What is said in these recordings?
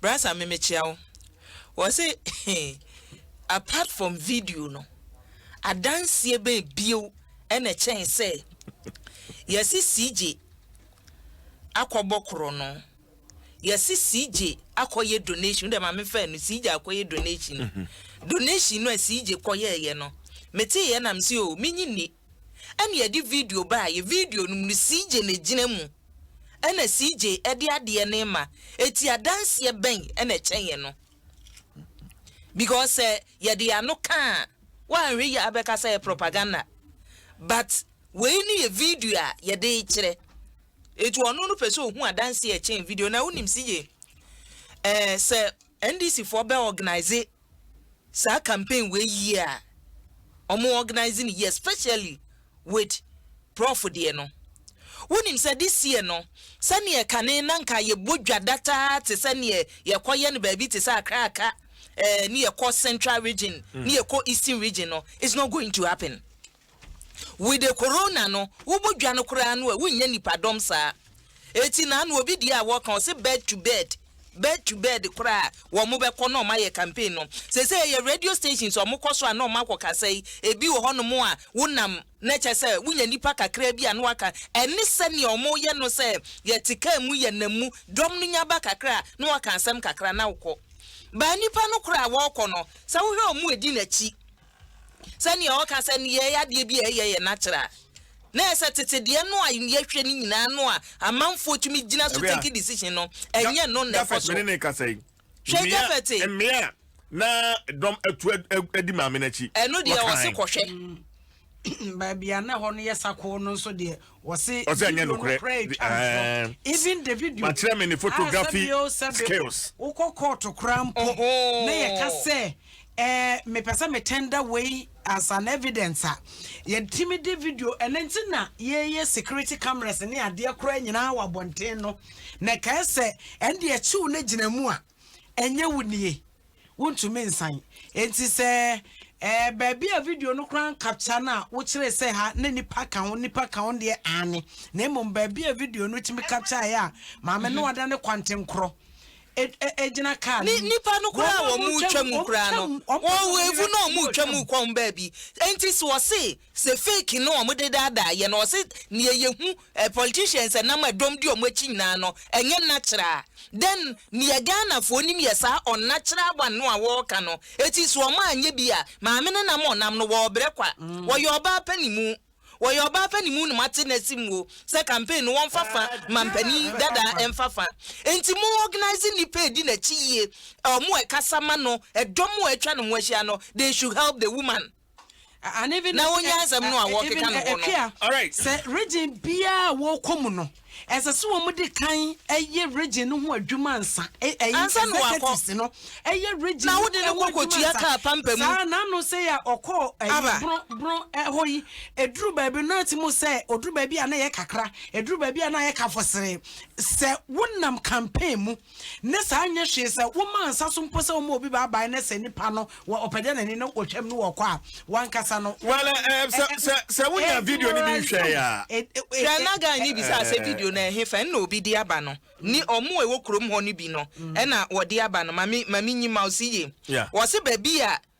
Brasa me mekyea wo wɔse apart from video no adanseɛ bɛn bio ɛna ɛkyɛn sɛ yɛse CJ akɔbɔ korɔ no yɛse CJ akɔyɛ donation wodɛ maame fɛ no CJ akɔyɛ donation mhm. donation no a CJ kɔyɛɛyɛ no meteeɛ na mese o oh, menyi nni ɛna yɛde video baeɛ, video no mu no CJ na ɛgyina mu, ɛna CJ de adeɛ no rema, ɛti adanseɛ bɛn na ɛkyɛn ɛno? Because sɛ yɛde yɛn ano ka a, woanhwɛ yie a wobɛka sɛ ɛyɛ propaganda, but wei no yɛ video a yɛde rekyerɛ, ɛti ɔno no pɛ sɛ ɔhu adanseɛ ɛkyɛn video, na wonim CJ, ɛɛ sɛ NDC foɔ bɛ organise saa campaign wei yie a ɔmo organise no yie especially with prɔfo deɛ no wonim sɛ this year no sɛneɛ kane na nka yɛbɔ dwa dataa te sɛ neɛ yɛkɔ yɛ no baabi te sɛ akra aka ɛɛ ne yɛkɔ central region ne yɛkɔ eastern region no it's not going to happen. Wide corona no wobɔ dwa no koraa no a wonnya nipa dɔm saa eti naano obi deɛ a wɔka ɔse bed to bed bed to bed koraa a wɔn bɛkɔ na wɔn ayɛ campaign no sesei ɛyɛ radio stations a wɔn kɔso a na wɔn akɔ kasa yi ebi wɔ hɔ nom a wonam na kyɛ sɛ wonya nipa kakraa bi a na waka ɛne sɛnea wɔn yɛ no sɛ yɛte kaa mu yɛ nam mu dɔm no nya ba kakra a na wɔka asɛm kakra na wokɔ baa nipa no koraa a wɔkɔ no sɛ wohwɛ wɔn a edi n'akyi Sɛ nea ɔka sɛ ne yɛɛ adeɛ bi a ɛyɛ yɛn akyerɛ a, na ɛyɛ sɛ tete deɛ no a yɛhwɛ no nyinaa no a amanfoɔ tumi gyina so take decision no, ɛnyɛ no na ɛkɔ so. Hwɛ Japhet. Mmea na dɔm atu adi maame no akyi. Ɛno deɛ ɔse kɔhwɛ. Baabi a na ɛhɔ no yɛ sakoo no nso deɛ Wɔse video no kora etwa ntorɔ even the video a sɛbio sɛbio wokɔ kɔɔto kora mpo na yɛka sɛ ɛɛ mepɛ sɛ me tender wei as an evidence a yɛtumi de video ɛno nti na yɛyɛ security cameras ne adeɛ kora nyinaa wɔ abɔnten no na ɛkae sɛ ɛnde akyiw no gyina mu a ɛnyɛ wo nie wontumi nsan. Enti sɛ eh, baabi a video no koraa nkapkya no a wokyerɛ sɛ ha na nipa ka ho nipa ka ho deɛ aane na mmom baabi a video no tumi kapkyaeɛ a maame no ada ne kwantenkorɔ ɛgyina e, e, kaa no nipa no koraa wɔn mu twa mu koraa no wɔn evu na wɔn mu twa mu kɔn baabi enti sɛ wɔse Sɛ fake no wɔn de daadaa yɛn no wɔse neɛ yɛhu eh politicians ɛnam a dɔm di wɔn akyi nyinaa no ɛnyɛ natural a then neɛ Ghanafoɔ nim yɛ saa unnatural one no a wɔɔka no eti so wɔn anyɛ bi a maame no nam ɔnam no wɔɔbrɛ kwa wɔyɛ ɔbaa panimu wɔyɛ ɔbaa panimu na moate nɛse muo sɛ campaign no wɔnfa fa mampanin dadaa ɛnfa fa enti mo organise nnipa a ɛdi nakyi yie a wɔn ɛkasa ma no ɛdɔm a atwa ne ho ahyia no they should help the woman. na wonya asɛm no a wɔkeka no hɔ no. Alright, sɛ region biara a wɔkɔ mu no, ɛsɛ sɛ wɔde kan yɛ region no ho adwuma ansa. Ansa na wakɔ. no yɛ region na wode no kɔ kɔtua kaa pampa mu. Saa na ano sɛ yɛ ɔkɔ ɛyi bron bron ɛhɔ yi, eduru baabi no ti mu sɛ oduru baabi a na yɛ kakra, eduru baabi a na yɛ kafɔsere. Sɛ wonam campaign mu. ne saa nyɛ hwee sɛ womaa nsa so mpo sɛ wɔma obi baabae ne sɛ nipa no wɔ ɔpɛdɛnani no wɔ twam no wɔ ɔkɔ a wankasa no. Well, eh, eh, sɛ sɛ sɛ wonya video no bi hwɛ ya. Hwɛ na guy ni bisa sɛ video no ɛhe fɛn na obi de aba no ni ɔmo ɛwɔ kurom hɔ no bi no ɛna wɔde aba no mami mami nyi mouse yie wɔsi baabi a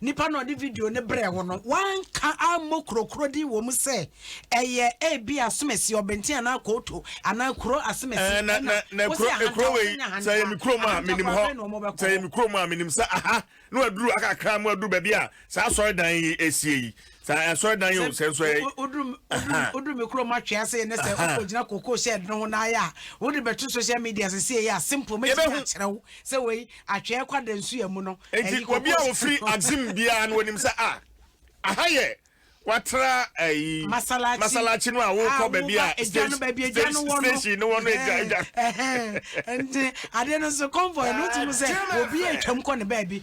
nipa na ɔde video no brɛɛ wo no, wanka ammɔ kurokuro din wɔ mu sɛ ɛyɛ ebi asomasi ɔbɛnten anaa kooto anaa kuro asomasi. Eh, na na na kuro ekuro wei sɛ yɛ mi kuro mu a menim hɔ sɛ yɛ mi kuro mu a menim sɛ aha na waduru akakra mu aduru baabi a saa asɔre dan yi esie yi Sɛ asɔredan yi o, sɛ nso ɛ. Woduru me kurom atwe ase yɛ ne sɛ wokɔgyina koko shed no ho na ayɛ a, wode bɛto social media sɛ sei a simple mɛtumi akyerɛ wo sɛ wei atwee kwa da nsu amu no. Enti obi a ofiri Axim biara no onim sɛ a ah, aha yɛ watra ayi eh, masalachi no a wokɔ baabi a station no wɔ no agya agya. Nti ade no nso convoy no tumi sɛ obi atwam kɔ ne baabi.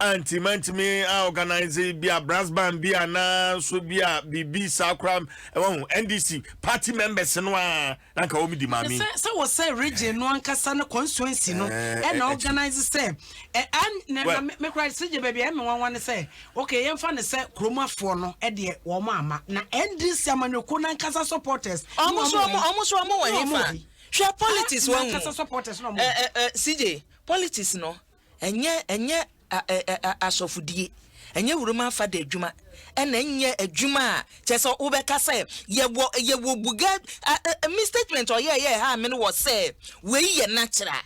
Anti mantumi a organise bi a brass band bi a na nso bi a biribi saa koraa ɛwɔ ho NDC party members no a na nka wɔn di maame. Sɛ sɛ wɔ sɛ region no ankasa ne constituency no ɛna organise sɛ ɛ an na me koraa sɛ gye baabi a ɛmɛ nwanwa ne sɛ okay yɛn fa ne sɛ kuromafoɔ no ɛdeɛ wɔn ama na NDC amanyɔkuo no ankasa supporters. Ɔmo so ɔmo ɔmo so ɔmo wɔ hefa hwɛ politics wɔn mu ɛ ɛ ɛ CJ politics no Ɛnyɛ, ɛnyɛ a, ɛ, ɛ, a, asɔfodie, ɛnyɛ wuram afade adwuma, ɛna ɛnyɛ adwuma a kyerɛ sɛ wobɛka sɛ yɛwɔ, yɛwɔ buga, a, ɛ, ɛ, me statement a ɔyɛɛ yɛɛ haa me no wɔ sɛ wei yɛ natural.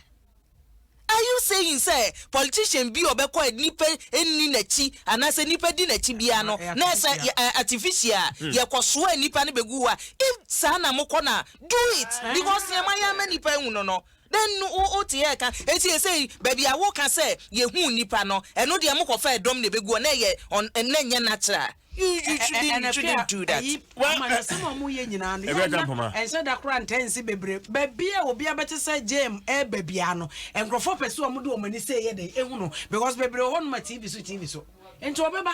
Are you saying sɛ politician bi a ɔbɛkɔ a nnipa nni n'akyi anaasɛ nnipa di n'akyi biara no, na ɛsɛ yɛ, ɛ, artificial a yɛkɔsoa nnipa no bɛgu hɔ a, if saa na mokɔ no a, do it, because nea moayɛ ama nnipa ahu no no, Dɛn no wo wo te ɛɛka? Enti esei baabi a wo ka sɛ yɛ huu nipa no ɛno deɛ mo kɔ fɛɛ dɔm na ebegu hɔ na ɛyɛ ɔn ɛn na ɛnyɛ natural you you shouldn't you shouldn't do that. Well amanasɛm a ɔmo yɛ nyinaa no yɛ nya ɛnhyɛ da koraa ntɛn nse bebree baabi a obi abɛte sɛ gyɛɛm ɛɛba biaa no nkorɔfoɔ pɛ sɛ ɔmo de ɔmo ani sɛ ɛyɛ dɛn ehunu because bebree wɔ hɔ nom a TV so TV so nti ɔbɛba.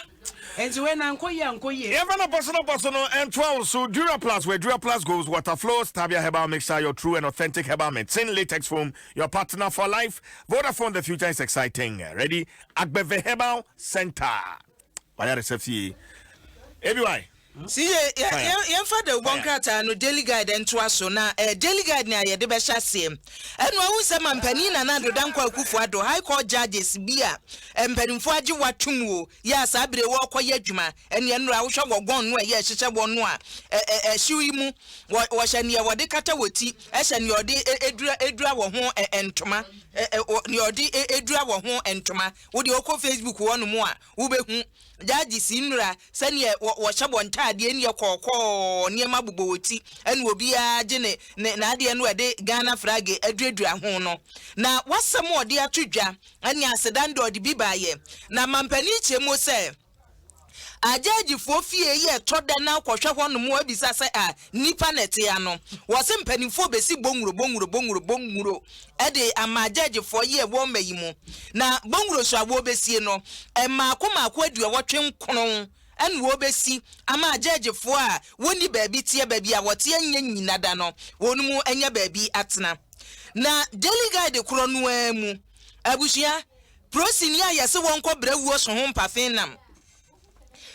Enti wei na nkɔ yie ankɔ yie. Yɛmfa no bɔso no bɔso no ntoa wo so Duraplast where Duraplast goes Water flows Tabia herbal mixture Your true and authentic herbal medicine Latex foam Your partner for life Vodafone The future is exciting Ready Agbeve Herbal Centre W'ayaresa fie ABY. Yɛmfa dawubɔ nkrataa no Daily Guide ntoa so na Daily Guide nea yɛde bɛhyɛ aseɛ. Ɛnoa wohu sɛ Mampanin Nana Addo Dankwa Akufo Addo, High Court Judges bi a mpanimfoɔ agye wo atom o, yɛ a saa berɛ yi wɔrekɔyɛ adwuma. Ɛnneɛ nnora wohwɛ wɔ gɔn no a ɛyɛ ɛhyehyɛ wɔn no a, ɛhyew yi mu. Wɔhyɛ nea wɔde kata wɔ ti, hyɛ nea wɔde dura wɔ ho ntoma, nea wɔde dura wɔ ho ntoma. Wo deɛ wokɔ Facebook hɔnom a wobɛhu. Judges nnura sɛdeɛ wɔ wɔhyɛ wɔn ntaadeɛ nneɛ kɔɔkɔɔ nneɛma bobɔ wɔ ti ɛna obiara gye ne ne n'adeɛ no ɛde Ghana flag aduradura ho no na wasɛm a ɔde ato dwa ɛne aseda no deɛ ɔde bi baeɛ na mampanin kyerɛmuo sɛ a judge foɔ fie yɛ tɔ da na kɔhwɛ hɔ nom abisa sɛ a nnipa na ɛte ano wɔ se mpanimfoɔ bɛsi bonguro bonguro bonguro bonguro de ama agyɛɛgyefoɔ yeɛ wɔ mma yi mu, na bɔnwuro so a wɔɔbɛsie no, mmaako mmaako aduɔwɔtwe nkron na wɔɔbɛsi ama agyɛɛgyefoɔ a wɔnni baabi teɛ, baabi a wɔteɛ nyɛ nnyina da no, wɔn mu anya baabi atena. Na Daily Guide korɔ no ara mu, abusua, prosini a yɛse wɔnkɔ brɛ wuo so ho mpafe nam.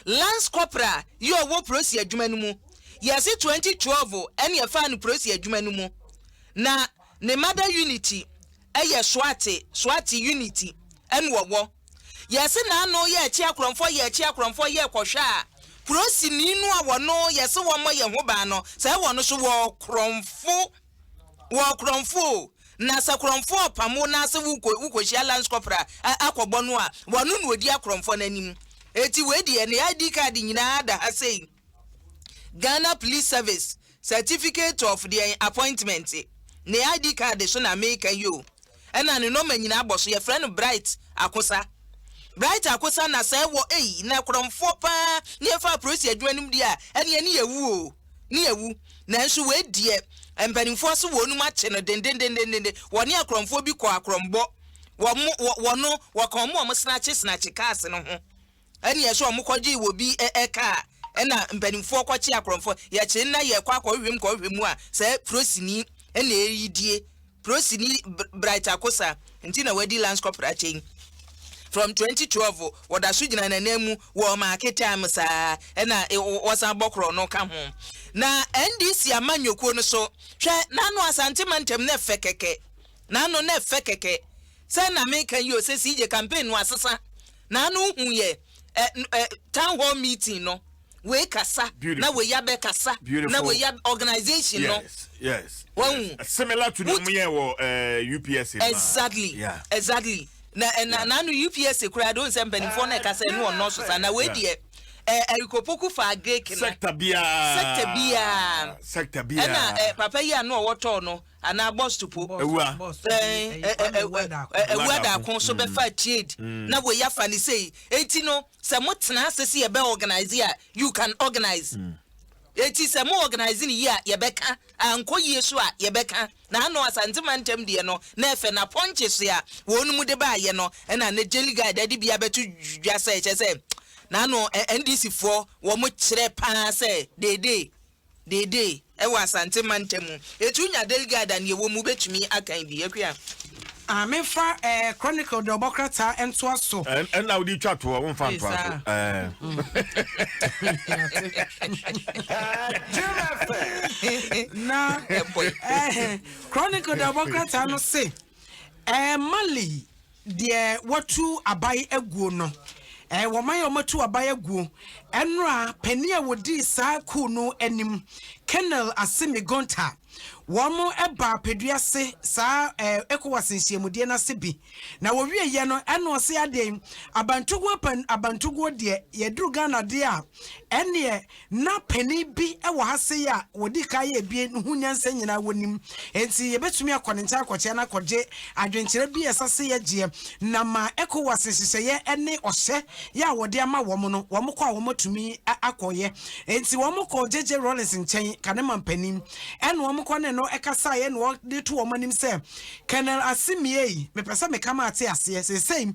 Lance corporal yi a ɔwɔ polisi adwuma no mu. Yɛse twenty twelve ɛne ɛfaa no polisi adwuma no mu. Na ne mother unit ɛyɛ SWAT, SWAT unit ɛne ɔwɔ. Yɛse n'ano yɛ ɛkye akorɔmfoɔ yɛ ɛkye akorɔmfoɔ yɛ kɔhwɛ a polisini no a wɔno yɛse wɔmmɔ yɛn ho ban no saa wɔno so wɔ korɔmfo. wɔ korɔmfo o, na sɛ korɔmfo ɔpam wo na sɛ wokɔ wokɔhyia lance corporal a akɔbɔ no a, wɔno na ɔdi akorɔmfoɔ no anim. Eti wei deɛ ne ID card nyinaa da ha sei. Ghana Police Service certificate of deɛn appointment ne ID card so na meka yi o. Ɛna ne nɔma nyinaa bɔ so yɛfrɛ no Bright Akosa. Bright Akosa na sɛ wɔ ei na korɔmfoɔ paa ne ɛfa aprosi adwuma no mu deɛ a ɛne ɛne yɛwu o. ne awu. Nanso wei deɛ mpanimfoɔ se wɔnom akye no dendendendenden. Wɔne akorɔmfoɔ bi kɔɔ akorɔmbɔ. Wɔn wɔ wɔno wɔka wɔn wɔn snatche snatche cars no ho. Ɛne ɛsɛ wɔn kɔgyee wɔ bi ɛ ɛ car ɛna mpanimfoɔ kɔkye akorɔmfoɔ. Yɛkye nna yɛkɔ akɔhwehwɛ mu kɔhwehwɛ mu a saa prosini ɛna ɛredie. Polisini Bright Akosa nti na wadi Lance Corporal akyɛ yi. From twenty twelve wɔda so gyina n'ananmu wɔ Maake Time saa ɛna wɔsan bɔ korɔ no ka ho. Na NDC amanyɔkuo no so, hwɛ n'ano Asante mantam no fɛ kɛkɛ, n'ano no fɛ kɛkɛ. Sɛ na meka yi o sɛ CJ campaign no asesa, n'ano hu yɛ ɛ ɛ town hall meeting no. wei kasa na wei abɛ kasa na wei abɛ organization no. yes yes. wɔn yes. similar to the mu yɛ wɔ eh, UPS. exactly yeah. exactly na eh, na na no UPS kura de nsɛm mpanimfoɔ na ɛkasa ɛnu wɔn nɔɔso sa na wei deɛ. ɛrikopoku fa greek no sector biara sector biara sector biara ɛna eh, papa yi ano ɔwɔ tɔɔ no anaa bus to po ewura ewura daako so bɛfa mm. trade mm. na wei afa ne sei eti no. Sɛ mo tena ase se yɛbɛ organise a, you can organise. Eti sɛ mo organise no yie a, yɛbɛ ka. Ankɔ yie so a, yɛbɛ ka. Na ano Asante mantam deɛ no, na ɛfɛ. Na pɔnkye se a wɔnom de baa yɛ no, ɛna ne Daily Guide ɛde bia bɛto dwa sɛ, kyerɛ sɛ, na ano NDC foɔ wɔn kyerɛ paa sɛ, deedee. Dede wɔ Asante mantam mu. Etu nya Delgado a nea ɛwɔ mu wobɛtumi akan bi. Akua. Ah menfa eh chronicle de ɔbɔ krataa ntoa so. Ɛn ɛna wode twa toɔ wonfa Ee ntoa so saa. ɛɛ. Na Ɛbɔ yi. eh chronicle de ɔbɔ krataa no se eh Mali Deɛ wɔatu abae aguo no, ɛɛ wɔman a wɔatu abae aguo, ɛnora panin a wɔdii saa kuo no anim, Colonel Assimi Goïta, wɔn baa Peduase saa ɛɛ ECOWAS nhyiamudeɛ no ase bi, na wɔwieɛ no ɛna ɔse adeɛn, Abantoguo pɛn, Abantoguo deɛ yɛduru Ghana deɛ a, ɛnneɛ Ná panin bi wɔ ha sei a wɔdii kan yɛɛ abien no ho nyansa nyinaa wɔnim, enti yɛbɛtumi akɔ ne nkyɛn akɔkyea no akɔgye adwenkyerɛ bi a ɛsɛ sɛ yɛgyeɛ, na ma Ecowas nhyehyɛeɛ ne ɔhyɛ yɛ a wɔde ama wɔn no, wɔkɔ a wɔatumi akɔyɛ. Enti wɔkɔɔ JJ Rawlings nkyɛn, Kanema mpanin, ɛna wɔkɔ ne no kasaeɛ na wɔde to wɔn anim sɛ, Colonel Assimi ei, mepɛ sɛ meka ma ate aseɛ, seesei,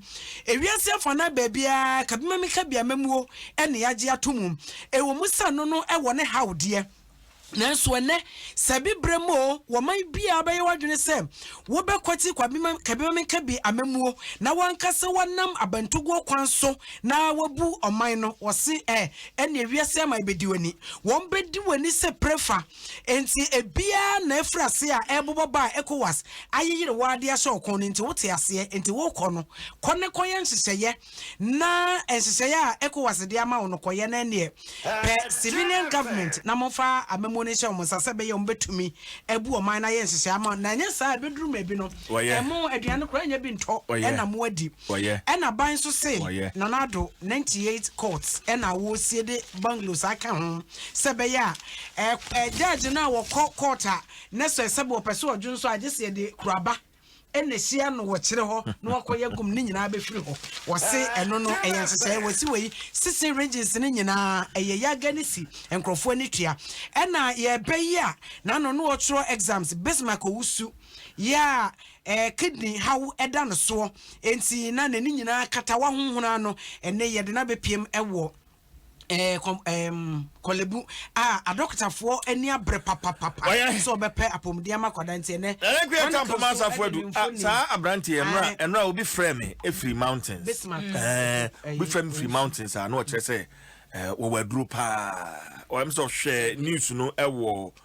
ewiase afanan baabiara, ka bi ma menka bi a, mɛmuo. na yɛagye ato mu. Ɛwɔ mu sɛ ɛno no wɔ ne haw deɛ, nanso ɛnnɛ, sɛ bi berɛ mu oo, wɔman biara bɛyɛ w'adwene sɛ wobɛkwati Kwabima-Kabima-Menkabi amammuo na woanka sɛ woanam abantuguo kwan so na woabu ɔman no. Wɔse ɛ, ɛnneɛ wiase aman bɛdi w'ani. Wɔbɛdi w'ani sɛ prefa. Enti ebiara na afiri aseɛ a ɛrebobɔ ba a Ecowas ayeyere wo ara de ahyɛ wo kɔn no nti, wote aseɛ. Enti worekɔ no, kɔ na kɔyɛ nhyehyɛeɛ. na nhyehyɛeɛ a ECOWAS de ama wo no kɔyɛ no ɛneɛ pɛ civilian government na momfa amamuo no nhyɛ wɔn nsa sɛ ɛbɛyɛ wɔn bɛtumi abu ɔman no ayɛ nhyehyɛeɛ ama na ɛnyɛ saa ɛbɛduru maabi no ɛmo aduane koraa nyɛ bi ntɔ ɛna mo adi ɛna ban nso se Nana Addo 98 courts ɛna wɔresie de bungalows aka ho sɛ ɛbɛyɛ a judge no a wɔkɔ court a na sɛ sɛ wɔpɛ sɛ ɔdwo nso a gye sɛ yɛde kuraba ɛna ɛhyia no wɔ kyerɛ hɔ na wakɔ yɛ gum ne nyinaa bɛfiri hɔ wɔse ah, ɛno no ɛyɛ nhyehyɛeɛ wɔsi wei sisi regions no nyinaa ɛyɛ yaga ne si nkurɔfoɔ ani tua ɛna yɛbɛ yi a n'ano no wɔtwerɛ exams bismark owusu yɛ a eh, kidney haw ɛda no soɔ enti na n'ani nyinaa kata wahohona no ɛne yɛde no abɛpiem ɛwɔ Eh, kɔ, um, kɔlebu. Ah, adɔkotafoɔ ani abrɛ papapapa. Ɔyɛ. Sɛ ɔbɛpɛ apɔmuden ama akwadaa nti ɛnɛ. Ɛnɛ kura ta mpoma asafo adu. Ah, saa aberante yɛ nora, ɛnora obi frɛ me efiri mountains. Bismarck. Mm. Eh, obi frɛ me firi mountains a, na ɔkyerɛ sɛ, eh, wɔwɔ aduro paa. Ɔyɛm sɛ ɔhwɛ news no ɛwɔ.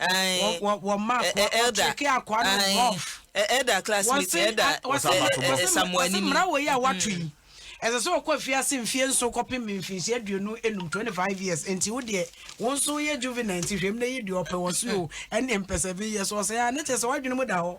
wɔma ɔkyeke akoa no rough ɛda classmate ɛda samuani mmara wɔ yi a wato yi ɛsɛ sɛ ɔkɔ afiase mfie nso kɔpem mfinhyia aduonu enum twenty five years nti wo deɛ wo nso yɛ juvenile nti hwɛm na yi deɛ ɔpɛ wɔ so o ɛne mpɛ seven years ɔsɛ a ne kyɛ sɛ wadwene mu da hɔ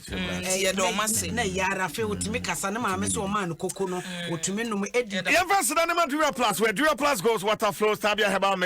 Nti yɛda wɔn ase. Na ɛyɛ ara afei otumi kasa ne maame sɛ ɔmaa no koko no, otumi nom edi. Yɛmfa nseda ne ma Dura Plus wɛ, Dura Plus Goes Water Flows Tabia Herbal Mix.